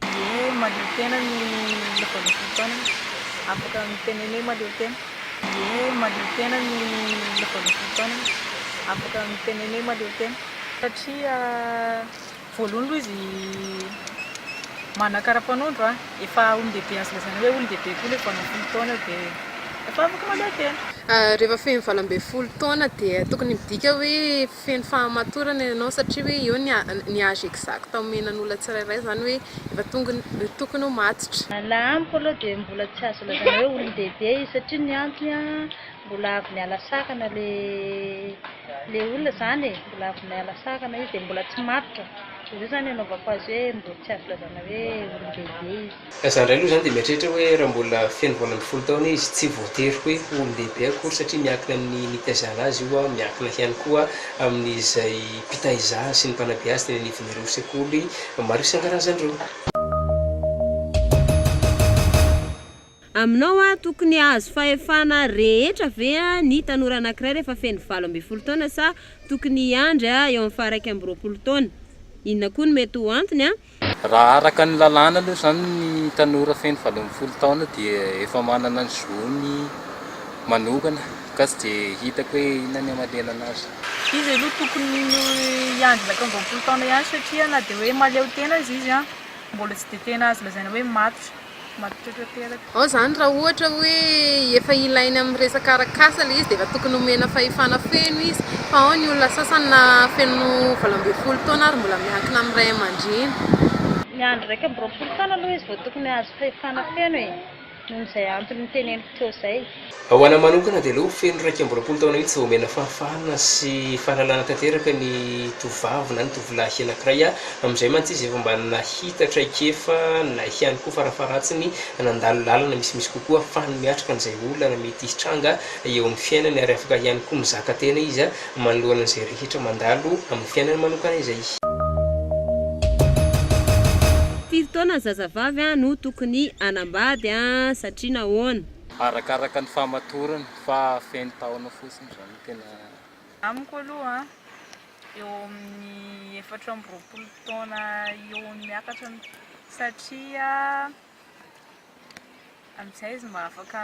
Ny hoe mahaleo tena ny vaovao fotoana. Afaka miteny hoe mahaleo tena. Ny hoe mahaleo tena ny vaovao fotoana. Afaka miteny hoe mahaleo tena. Satria voalohany aloha izy manakara-panondro an, efa olon-dehibe azo lazaina hoe olon-dehibe koa ilay vao hanao folo taona dia efa afaka mahaleo tena. Rehefa feno valo ambin'ny folo taona dia tokony midika hoe Feno fahamatorana ianao satria hoe eo ny âge exact omenan'olona tsirairay izany hoe efa tokony ho matotra. N'a amiko aloha dia mbola tsy azo lazaina hoe olon-dehibe izy satria ny antony a mbola avy niala sakana le le olona izany e, mbola avy niala sakana izy dia mbola tsy matotra, dia izay izany anaovako azy hoe mbola tsy azo lazaina hoe olon-dehibe izy. Ka za indray aloha izany dia mieritreritra hoe raha mbola feno valo ambin'ny folo taona izy, tsy voatery hoe ho olon-dehibe akory satria miankina amin'ny nitaizana azy io, miankina ihany koa amin'izay mpitaiza azy sy ny mpanabe azy teny anivon'ireo sekoly maro isan-karazany ireo. Aminao aho tokony hahazo fahefana rehetra ve ny tanora anankiray rehefa feno valo ambin'ny folo taona sa tokony hiandry eo amin'ny faha iraika amby roapolo taona? Inona koa no mety ho antony? Raha araka ny lalàna aloha izany ny tanora feno valo ambin'ny folo taona dia efa manana ny zony manokana ka tsy dia hitako hoe inona ny hamaliana anazy. Izy aloha tokony hiandry ilay taon-jaompolo taona ihany satria na dia hoe mahaleo tena aza izy mbola tsy dia tena azo lazaina hoe matotra. Matotra tanteraka. Ao izany raha ohatra hoe efa ilainy amin'ny resaka arak'asa ilay izy dia efa tokony omena fahefana feno izy fa ao ny olona sasany na feno valo ambin'ny folo taona ary mbola miankina amin'ny ray aman-dreny. Ny andro iraika amby roapolo taona aloha izy vao tokony hahazo fahefana feno e, noho izay antony noteneniko teo izay. Ho anay manokana dia aleo ho feno iraika amby roapolo taona mihitsy vao omena fahafahana sy fahalalana tanteraka ny tovovavy na ny tovolahy anankiray a! amin'izay mantsy izy efa mba nahita traikefa na ihany koa farafaharatsiny nandalo lalana misimisy kokoa ahafahany miatrika an'izay olana mety hitranga eo amin'ny fiainany ary afaka ihany koa mizaka tena izy manoloana an'izay rehetra mandalo amin'ny fiainany manokana izay. Firy taona zazavavy no tokony hanambady satria nahoana? Arakaraka ny famatorany fa feno taona fotsiny zany no tena. Amiko aloha eo amin'ny efatra amby roapolo taona eo no miakatra satria amin'izay izy mba afaka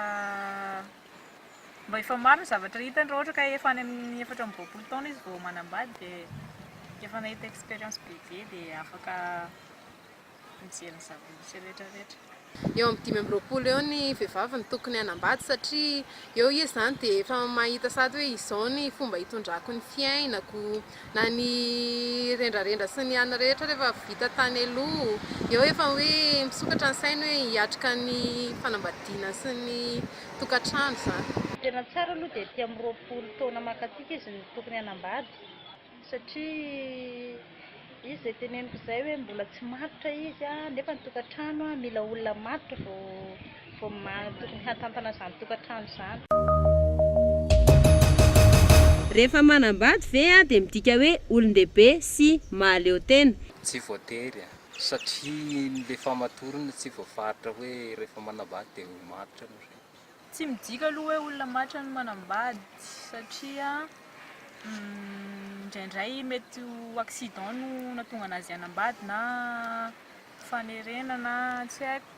mba efa maro ny zavatra hitany raha ohatra ka efa any amin'ny efatra amby roapolo taona izy vao manambady dia efa nahita expérience bebe dia afaka mijery ny zava-misy retraretra. Eo amin'ny dimy amby roapolo eo ny vehivavy no tokony hanambady satria eo izy izany dia efa mahita sady hoe izao ny fomba hitondrako ny fiainako na ny rendrarendra sy ny anona rehetra rehefa vita tany aloha eo efa hoe misokatra ny sainy hoe hiatrika ny fanambadiana sy ny tokantrano izany. Ny tena tsara aloha dia ety amin'ny roapolo taona mankatsika izy no tokony hanambady. satria izy izay teneniko izay hoe mbola tsy matotra izy a, nefa ny tokantrano a mila olona matotra vao vao maha tokony hatantana izany tokantrano izany. Rehefa manambady ve aho dia midika hoe olon-dehibe sy mahaleo tena? Tsy voatery a! Satria ny le famatorana tsy voafaritra hoe rehefa manambady dia ho matotra ianareo. Tsy midika aloha hoe olona matra no manambady satria indraindray mety ho accident no nahatonga an'azy hanambady na fanerena na tsy haiko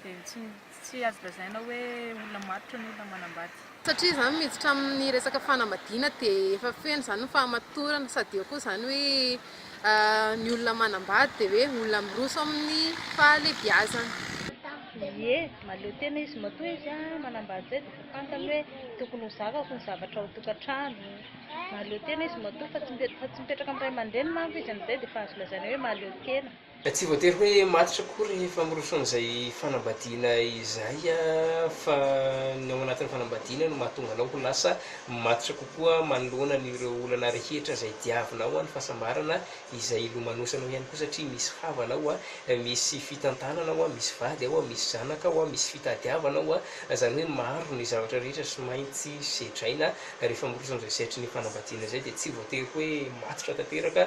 dia tsy tsy azo lazaina hoe olona matotra ny olona manambady. Satria zany miditra amin'ny resaka fanambadiana dia efa feno zany ny fahamatorana sady eo koa zany hoe. Ny olona manambady dia hoe olona miroso amin'ny fahalebiazana. Ie, mahaleo tena izy matoa izy manambady izay dia efa fantany hoe tokony ho zakako ny zavatra ao an-tokantrano. Mahaleo tena izy matoa fa tsy mipetraka amin'ny ray aman-dreniny manko izy amin'izay dia efa azo lazaina hoe mahaleo tena. Tsy voatery hoe matotra akory ny famoronsoan'izay fanambadiana izay fa ny ao anatin'ny fanambadiana no mahatonga anao ho lasa matotra kokoa manoloana an'ireo olana rehetra izay diavinao, ny fahasambarana izay hilomanosanao ihany koa satria misy havana ao, misy fitantanana ao, misy vady ao, misy zanaka ao, misy fitadiavana ao, izany hoe maro ny zavatra rehetra sy maintsy sedraina rehefa miroso amin'izay setrin'ny fanambadiana izay dia tsy voatery hoe matotra tanteraka